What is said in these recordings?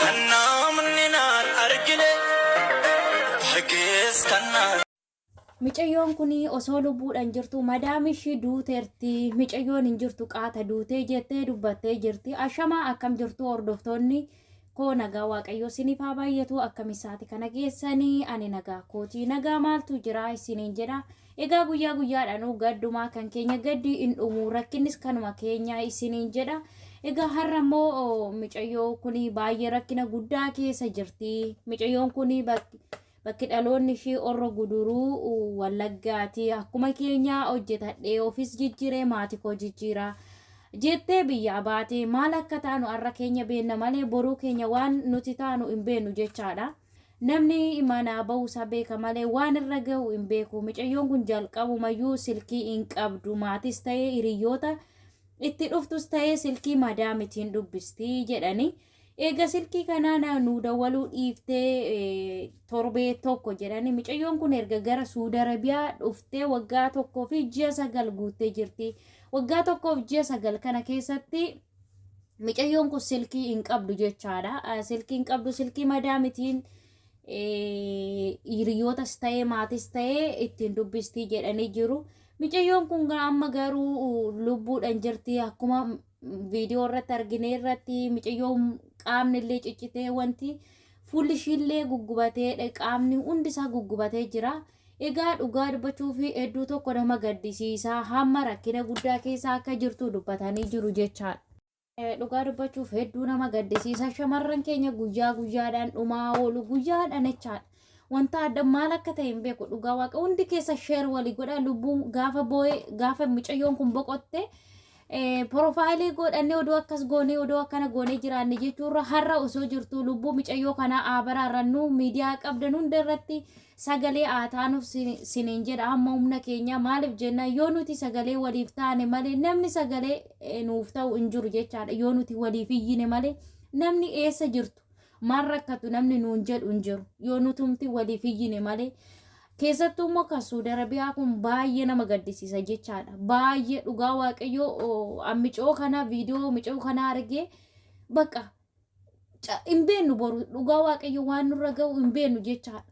Kan naamni naan argine argees kan naan. Micayyoon kun osoo lubbuudhaan jirtu madaam ishii duuteerti micayyoon hin jirtu qaata duutee jettee dubbattee jirti ashamaa akkam jirtu hordoftoonni koo nagaa waaqayyoo isiniif haa baay'atu akkam isaati kana keessanii ani nagaa kootii nagaa maaltu jira isiniin jedha Egaa guyyaa guyyaadhaanuu gaddumaa kan keenya gaddi hin dhumuu rakkinnis kanuma keenya isiniin jedha. Egaa har'a immoo micayyoo kun baay'ee rakkina guddaa keessa jirti. Micayyoon kun bakki dhaloonni ishii orra guduruu wallaggaati. Akkuma keenya hojjetadhee ofis jijjiiree maatii koo jijjiira. Jettee biyyaa baatee maal akka taanu har'a keenya beenna malee boruu keenya waan nuti taanu hin beennu jechaadha. Namni manaa ba'uu isaa beeka malee waan irra ga'u hin beeku. Micayyoon kun jalqabumayyuu silkii hin qabdu. Maatiis ta'ee hiriyyoota itti dhuftus ta'ee silkii madaamitiin dubbisti jedhanii. Eega silkii kanaa na- nuu dawwaluu dhiiftee eh, torbee tokko jedhanii. Micayyoon kun erga gara Suudi Arabiyaa dhuftee waggaa tokkoo fi ji'a sagal guuttee jirti. Waggaa tokkoof ji'a sagal kana keessatti Micayyoon kun silkii hin qabdu jechaadha. Silkii hin qabdu silkii madaamitiin hiriyootas ta'ee maatis ta'ee ittiin dubbistii jedhanii jiru. Micayyoon kun gaa amma garuu lubbuudhaan jirti akkuma viidiyoo irratti argine irratti micayyoon qaamni illee ciccitee wanti fuulli ishiillee guggubatee qaamni hundi isaa guggubatee jira. Egaa dhugaa dubbachuuf hedduu tokko nama gaddisiisa hamma rakkina guddaa keessa akka jirtu dubbatanii jiru jechaadha. Dhugaa dubbachuuf hedduu nama gaddisiisa shamarran keenya guyyaa guyyaadhaan dhumaa oolu guyyaadhaan jechaadha. Wanta adda maal akka ta'e hin beeku dhugaa waaqa hundi keessa sheer walii godha lubbuun gaafa boo'ee gaafa mucayyoon kun boqotte porofaayilii godhannee oduu akkas goonee oduu akkana goonee jiraanne jechuurra har'a osoo jirtu lubbuu mucayyoo kanaa aabaraa irrannuu miidiyaa qabdan hunda irratti Sagalee haa taanuuf siniin jedha hamma humna keenyaa maaliif jennaan yoo nuti sagalee waliif taane malee namni sagalee nuuf ta'u hin jiru jechaadha yoo nuti waliif iyyine malee namni eessa jirtu maal rakkatu namni nuun jedhu hin jiru yoo nutumti waliif iyyine malee keessattuu immoo kan suudi arabiyaa kun baay'ee nama gaddisiisa jechaadha baay'ee dhugaa waaqayyoo ammicoo kana viidiyoo micoo kana argee bakka hin beennu boru dhugaa waaqayyo waan nurra ga'u hin beennu jechaadha.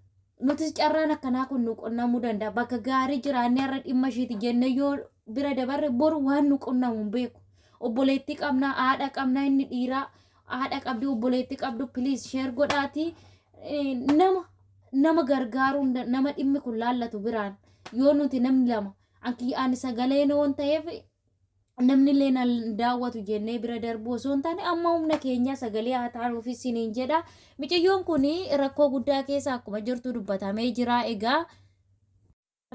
Nutis carraan akkanaa kun nu qunnamuu danda'a. Bakka gaarii jiraannee har'a dhimma ishiiti jennee yoo bira dabarre boru waan nu qunnamu hin beeku. Obboleettii qabnaa, haadha qabnaa, inni dhiiraa haadha qabdi, obboleettii qabdu piliis sheer godhaatii nama nama gargaaruu hin dan- nama dhimmi kun laallatu biraan yoo nuti namni lama anki ani sagaleen waan ta'eef namnillee na daawwatu jennee bira darbuu osoo hin taane amma humna keenyaa sagalee haa taanuuf isiniin jedha. Miciyyoon kun rakkoo guddaa keessa akkuma jirtu dubbatamee jira. Egaa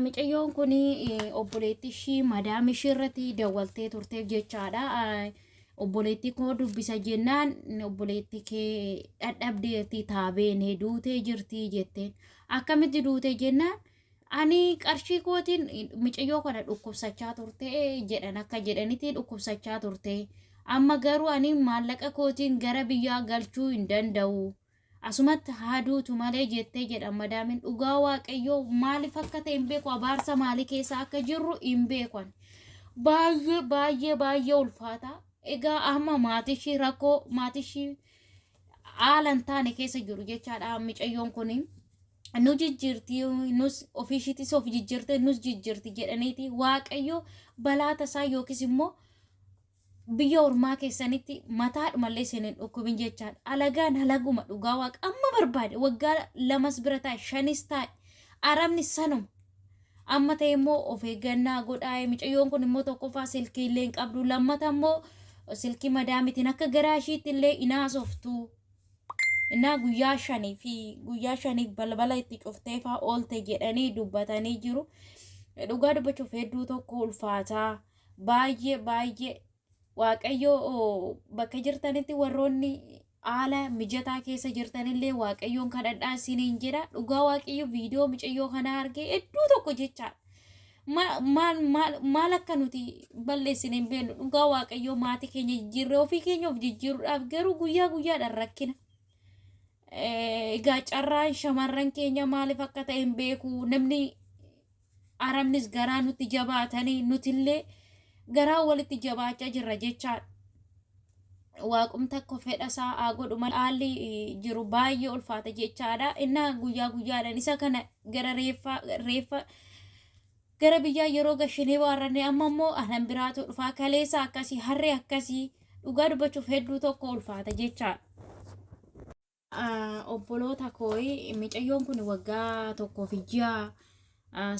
miciyyoon kun obboleetti ishii madaam ishii irratti dawwaltee turteef jechaadha. Obboleetti koo dubbisa jennaan obboleetti kee dhadhabdeerti taabeen duutee jirti jette. Akkamitti duute jennaan Ani qarshii kootiin micayyoo kana dhukkubsachaa turte jedhan akka jedhanitti dhukkubsachaa turte. Amma garuu ani maallaqa kootiin gara biyyaa galchuu hin danda'u. Asumatti haaduutu malee jettee jedhan madaamin dhugaa waaqayyoo maaliif akka ta'e hin beeku abaarsa maalii keessa akka jirru hin beeku ani. Baay'ee baay'ee baay'ee ulfaata. Egaa amma maatishii rakkoo maatishii haala hin taane keessa jiru jechaadha micayyoon kuni. nu jijjiirti nus ofii ishiitis of jijjiirte nus jijjiirti jedhaniiti waaqayyo balaa tasaa yookiis immoo biyya ormaa keessanitti mataadhumallee isin hin dhukkubin jechaadha. Alagaan halaguma dhugaa waaqa amma barbaade waggaa lamas bira taa'e shanis taa'e arabni sanuma. Amma ta'e immoo of eeggannaa godhaa mucayyoon kun immoo tokkoffaa silkii illee hin qabdu lammata immoo silkii madaamitiin akka garaa ishiitti illee hin haasoftu. innaa guyyaa shanii fi guyyaa shaniif balbala itti cuftee faa oolte jedhanii dubbatanii jiru. Dhugaa dubbachuuf hedduu tokko ulfaataa baay'ee baay'ee waaqayyoo oo, bakka jirtanitti warroonni haala mijataa keessa jirtanillee waaqayyoon kadhadhaa isiniin jedha. Dhugaa waaqayyo viidiyoo micayyoo kanaa argee hedduu tokko jechaadha. Ma- maal maal maal akka nuti balleessine hin beeknu dhugaa waaqayyoo maatii keenya jijjiirree ofii keenya of jijjiiruudhaaf garuu guyyaa guyyaadhaan rakkina. Eh, Egaa carraan shamarran keenya maaliif akka ta'e hin beeku namni arabnis garaa nutti jabaatanii nutillee garaa walitti jabaachaa jirra jechaadha. waaqum takko fedha isaa haa godhu malee haalli jiru baay'ee ulfaata jechaadha. Innaa guyyaa guyyaadhaan isa kana gara reeffa reeffa gara biyyaa yeroo gashinee waarrannee amma immoo anan biraatu dhufaa kaleessa akkasii harree akkasii dhugaa dubbachuuf hedduu tokko ulfaata jechaadha. obboloota kooyi micayyoon kun waggaa tokkoo fi ji'a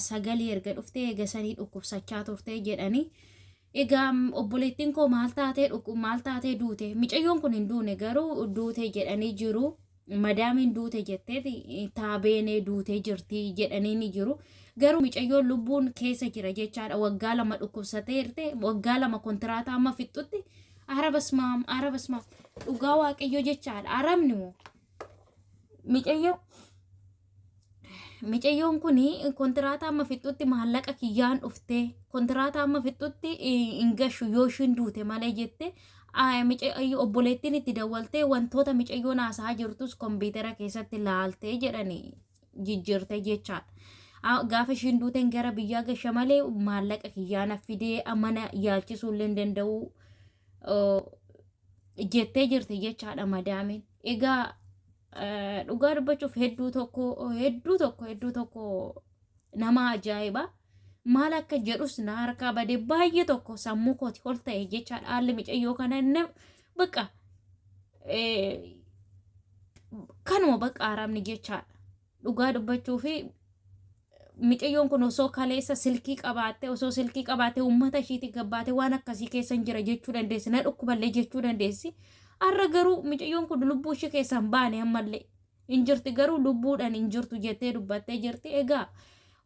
sagalii erga dhuftee eega sanii dhukkubsachaa turtee jedhanii egaa obboleettiin koo maal taatee dhukkub maal taatee duute micayyoon kun hin duune garuu duute jedhanii jiru madaamiin duute jetteet taabeenee duutee jirti jedhanii ni jiru garuu micayyoon lubbuun keessa jira jechaadha waggaa lama dhukkubsatee irte waggaa lama kontiraataa amma fixxutti Ara basmaam, ara basmaam. Dhugaa waaqayyoo jechaadha. Aramni moo? Micayyoo. Micayyoon kun kontiraata amma fixxutti maallaqa kiyyaan dhuftee kontiraata amma fixxutti hin gashu yoo ishiin duute malee jette micayyoo obboleettiin itti dawwaltee wantoota micayyoon haasaa jirtus kompiitara keessatti laaltee jedhani jijjiirte jechaadha. Gaafa ishiin duuteen gara biyyaa gasha malee maallaqa kiyyaana fidee mana yaalchisuu illee hin danda'u jettee jirti jechaadha madaamiin. Egaa dhugaa dubbachuuf hedduu tokko hedduu tokko hedduu tokko nama ajaa'iba. Maal akka jedhus na harkaa bade baay'ee tokko sammuu kooti ol ta'e jechaadha haalli micayyoo kana Baqa kanuma baqa arabni jechaadha. Dhugaa dubbachuu fi micayyoon kun osoo kaleessa silkii qabaatte osoo silkii qabaatte uummata ishiitii gabbaate waan akkasii keessa hin jira jechuu dandeessi na dhukkuballee jechuu dandeessi. Har'a garuu micayyoon kun lubbuu ishee keessaa hin baane ammallee. hin jirti garuu lubbuudhaan hin jirtu jettee dubbattee jirti egaa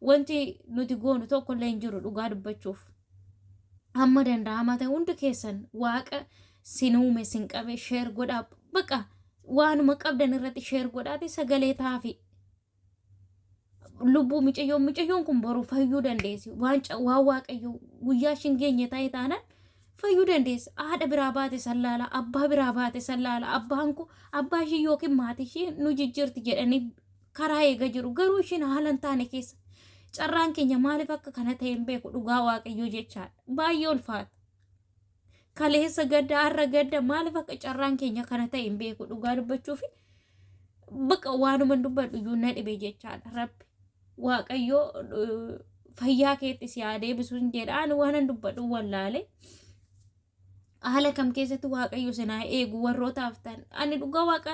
wanti nuti goonu tokko illee hin jiru dhugaa dubbachuuf hamma danda'amaa ta'e hundi keessan waaqa sin uume sin qabe sheer godhaa baqa waanuma qabdan irratti sheer godhaati sagalee taafi lubbuu micayyoon micayyoon kun boru fayyuu dandeessi waan ca- waan waaqayyo guyyaa ishiin geenye ta'e taanaan fayyuu dandeessi haadha biraa baate san laala abbaa biraa baate san laala abbaan koo abbaa ishii yookiin maatii ishii nu jijjiirti jedhanii karaa eega jiru garuu ishiin haala hin taane keessa carraan keenya maaliif akka kana ta'e hin beeku dhugaa waaqayyoo jechaadha baay'ee ulfaata kaleessa gadda har'a gadda maaliif akka carraan keenya kana ta'e hin beeku dhugaa dubbachuu fi baqa waanuman dubbadhu iyyuu na dhibe jechaadha rabbi waaqayyoo eh, fayyaa keetti si haa deebisu hin jedha ani waanan dubbadhu wallaale haala kam keessatti waaqayyo sinaa eegu warrootaaf ta'an ani dhugaa waaqa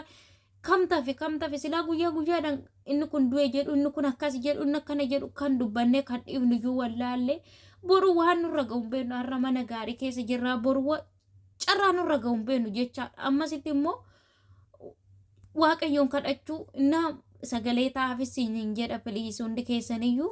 Kam tafe kam tafe silaa guyyaa guyyaadhaan inni kun du'e jedhu inni kun akkas jedhu inni akkana jedhu kan dubbannee kan dhiifnu iyyuu wallaallee boru waan nurra ga'u hin beeknu har'a mana gaarii keessa jirraa boru wa- carraa nurra ga'u hin beeknu jechaadha ammasitti immoo waaqayyoon kadhachuu innaa sagalee taa'aafis hin jedha piliis hundi keessaniyyuu